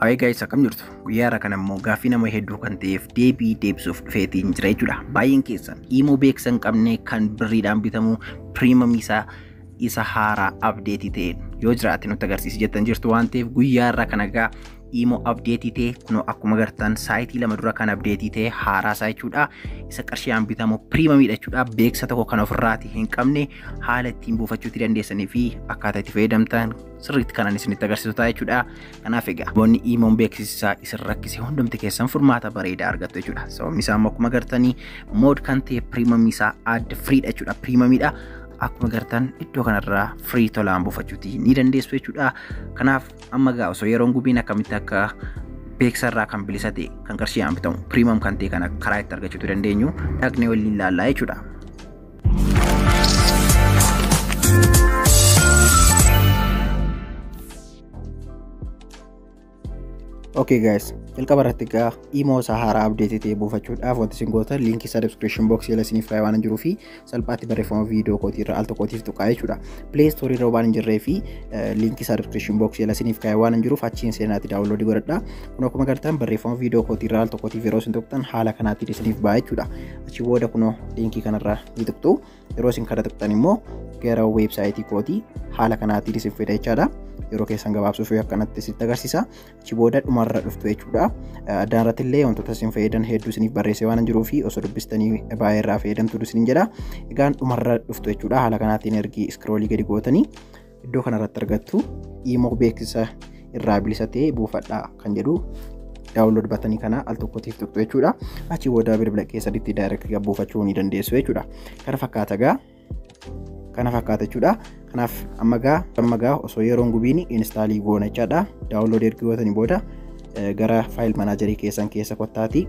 Hayi gaayis akkam jirtu guyyaa irra kan ammoo gaaffii nama hedduu kan ta'eef deebii deebisuuf dhufeetiin jira jechuudha. Baay'een keessan immoo beeksisan qabne kan birriidhaan bitamu piriimamii isaa isa haaraa abdeetii ta'een yoo jiraate nutti agarsiisi jettan jirtu waan ta'eef guyyaa irra kan egaa immoo abdeetii ta'e kunoo akkuma agartan saayitii lama dura kan abdeetii ta'e haaraa isaa jechuudha. Isa qarshiidhaan bitamu piriimamiidha jechuudha. Beeksisa tokko kan ofirraati hin qabne haala ittiin buufachuutti dandeessanii fi akkaataa itti fayyadamtan sirriitti kanan isinitti agarsiisu ta'a jechuudha. Kanaaf egaa namoonni iimoon beeksisaa isin rakkise hundumti keessan furmaata bareedaa argattu jechuudha. Sababni isaa immoo akkuma agartanii mood kan ta'e piriimamii isaa adda firiidha jechuudha. Piriimamiidha. Akkuma agartan iddoo kanarraa firii tolaan buufachuuti ni dandeessu jechuudha. Kanaaf amma egaa osoo yeroon gubiin akkamitti akka beeksarraa kan bilisa ta'e kan qarshiidhaan bitamu piriimam kan ta'e kana karaa itti argachuutu dandeenyu dhaqnee waliin ilaallaa jechuudha. Okay guys, jalqaba irratti egaa imoo isaa haaraa abdeetii ta'e buufachuudhaaf wanti isin gootan liinkii isaa description box jala isiniif kaa'ee waan jiruu fi salphaatti barreeffama viidiyoo kootii irra al tokkootiif tuqaa jechuudha. Play store irra waan hin jirree fi liinkii isaa description box jala isiniif kaa'ee waan hin jiruuf achiin seenaatti daawunloodii godhadha. Kun akkuma agartan barreeffama viidiyoo kootii irra al tokkootiif yeroo isin tuqxan haala kanaatiin isiniif ba'a jechuudha. achi booda kunoo liinkii kanarraa ni tuqxu yeroo isin kana tuqxan immoo gara weebsaayitii kootii haala kanaatiin isin fida jechaadha yeroo keessan gabaabsuuf akkanatti isin agarsiisa achi booda dhumarra dhuftu jechuudha addaan irratti illee wantoota isin fayyadan hedduu isiniif barreessee waan jiruu fi osoo dubbistanii baay'ee irraa fayyadamtu isin jedha egaan dhumarra dhuftu jechuudha haala kanaatiin ergi iskroolii gadi gootanii iddoo kanarratti argattu imoo beeksisa irraa bilisa ta'e buufadhaa kan jedhu daawunlood batanii kana al tokkotiif tuqxu jechuudha. Achi booda bilbila keessatti daayirekti gad buufachuu ni dandeessu jechuudha. Kana fakkaata gaa kana fakkaata jechuudha. Kanaaf amma gaa amma gaa osoo yeroon gubiin inistaalii goona jechaadha. Daawunlood erga gootanii booda gara faayil manaajarii keessan keessa kottaatii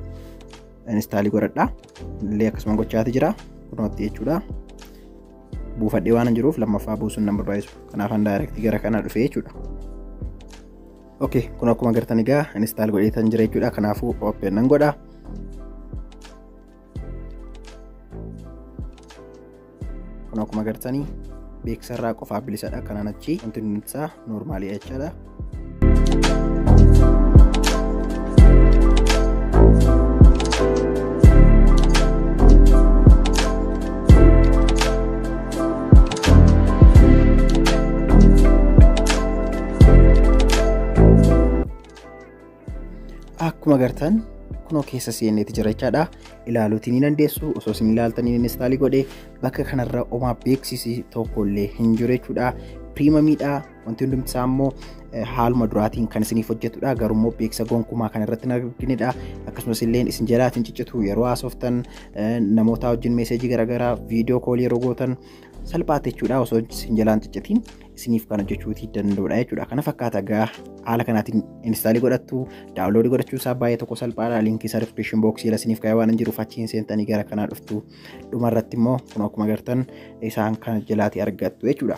inistaalii godhadha. Illee akkasuma gochaati jira. Kunootti jechuudha. buufadhee waan jiruuf lammaffaa buusuun nan barbaachisu kanaafan daayirektii gara kana dhufe jechuudha. ok kun akkuma agartan egaa instaal godhee tan jira jechuudha kanaafuu open nan godha kun akkuma agartanii beeksisarraa qofaaf bilisadha kanaan achi wanti nuti isaa noormaalii jechaadha akkuma agartan kunoo keessa seeneeti jira jechaadha ilaaluutiin ni dandeessu osoo isin ilaaltanii instaalii godhe bakka kanarra omaa beeksisi tokkollee hin jiru jechuudha piriimamiidha Wanti hundumti isaa immoo haaluma duraatiin kan isiniif hojjetudha. Garuu immoo beeksisa gonkumaa kan irratti hin arginidha. Akkasumas illee isin jalaatiin ciccitu yeroo haasoftan namoota wajjin meeseejii garaagaraa viidiyoo koolii yeroo gootan salphaatti jechuudha osoo isin jalaan ciccitiin isiniif kan hojjechuuti danda'udha jechuudha. Kana fakkaata egaa haala kanaatiin inistaalii godhattu daawunloodii godhachuu isaa baay'ee tokko salphaadha. Liinkii isaa diskiripshin booksii jala isiniif kaa'ee waan hin jiruuf achiin seentanii gara kanaa dhuftu. Dhuma irratti immoo kun akkuma gartan isaan kana jalaati argattu jechuudha.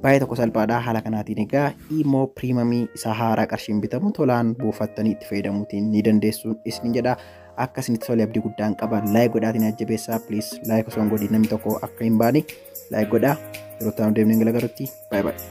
Baay'ee tokko salphaadha haala kanaatiin egaa immoo piriimamii isaa haaraa qarshiin bitamu tolaan buufattanii itti fayyadamuutiin ni dandeessuun isin jedha. Akka isinitti tole abdii guddaan qaba. Laayik godhaatiin ajjabeessaa please laayik osoo hin godhin namni tokko akka hin baane laayik godhaa. Yeroo itti aanu deemnee galagarutti baay'ee baay'ee.